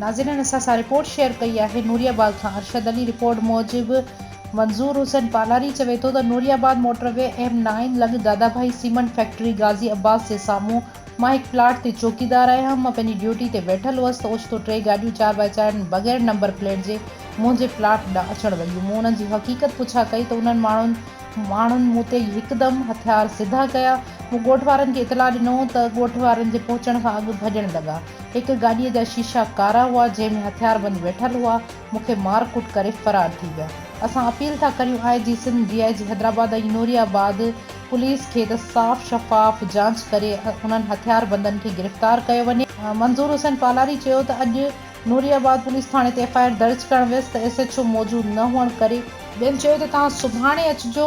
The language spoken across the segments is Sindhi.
ناظرين اسان سان رپورٽ شيئر ڪئي آهي نوري آباد کان ارشد علي رپورٽ موجب منظور حسين پالاري چوي ٿو ته Nooriabad motorway M nine لڳ دادابهائي سيمنٽ فيڪٽري غازي عباس جي سامهون مان هڪ پلاٽ تي چوڪيدار آهيان. مان پنهنجي ڊيوٽي تي ويٺل هئس ته اوچتو ٽي گاڏيون چار باء چار بغير نمبر پليٽ جي منهنجي پلاٽ ڏانهن اچڻ لڳيون. مون انهن جي حقيقت پڇا ڪئي ته انهن ماڻهن ماڻهن مون تي هڪدم هٿيار سڌا ڪيا. مون ڳوٺ وارن کي اطلاع ڏنو ته ڳوٺ وارن جي پهچڻ کان اڳ ڀڄڻ لڳا. هڪ گاڏيء جا شيشا ڪارا هئا، جنهن ۾ هٿياربند ويٺل هئا. مون کي مار ڪٽ ڪري فرار ٿي ويا اسان اپيل ٿا ڪريون I G Sindh D I G Hyderabad ۽ Nooriabad police کي ته صاف شفاف جانچ ڪري انهن هٿيار بندن کي گرفتار ڪيو وڃي. منظور حسين پالاري چيو ته اڄ نوري آباد پوليس ٿاڻي تي ايف آء آر درج ڪرڻ ويس ته ايس ايڇ او موجود نه هئڻ ڪري، ٻين چيو ته توهان سڀاڻي اچجو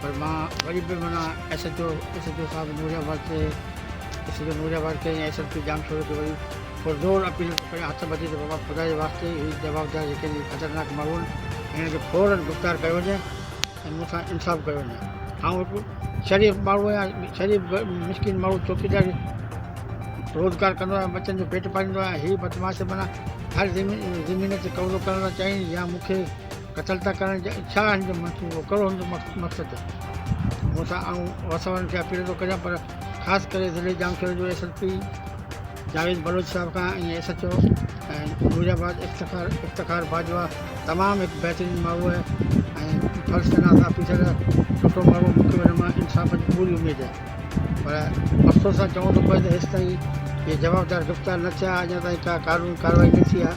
پر مان وري به معنيٰ S H O S H O صاحب نوري آباد کي S H O Nooriabad کي ۽ S S P Jamshoro کي وري پرزور اپيل ڪريان هٿ ٻڌي ته بابا خدا جي واسطي هي جوابدار جيڪي آهن هي خطرناڪ ماڻهو آهن هنن کي فورن گرفتار ڪيو وڃي ۽ مون سان انصاف ڪيو وڃي آئون هڪ شريف ماڻهو آهيان شريف مسڪين ماڻهو چوڪيداري روزگار ڪندو آهيان ٻچن جو پيٽ پاليندو آهيان هي بدمعاش معنيٰ هر زمين زمين تي قبضو ڪرڻ لاء چاهين يا مون کي قتل ته ڪرڻ جا ڇا هن جو منصوبو ڪهڙو هن جو مقصد مون سان آئون وس وارن کي اپيل ٿو ڪريان پر خاص ڪري ضلعي ڄامشوري جو S S P Javed Baloch صاحب کان ۽ S H O ۽ Nooriabad Iftikhar Iftikhar Bajwa تمام هڪ بهترين ماحول ۽ فرض شناس آفيسر سٺو ماحول مون کي هن مان انصاف جي پوري اميد آهي پر افسوس سان چوڻو ٿو پوي ته هيستائين اهي جوابدار گرفتار نه ٿيا اڃا تائين ڪا قانوني ڪارروائي نه ٿي آهي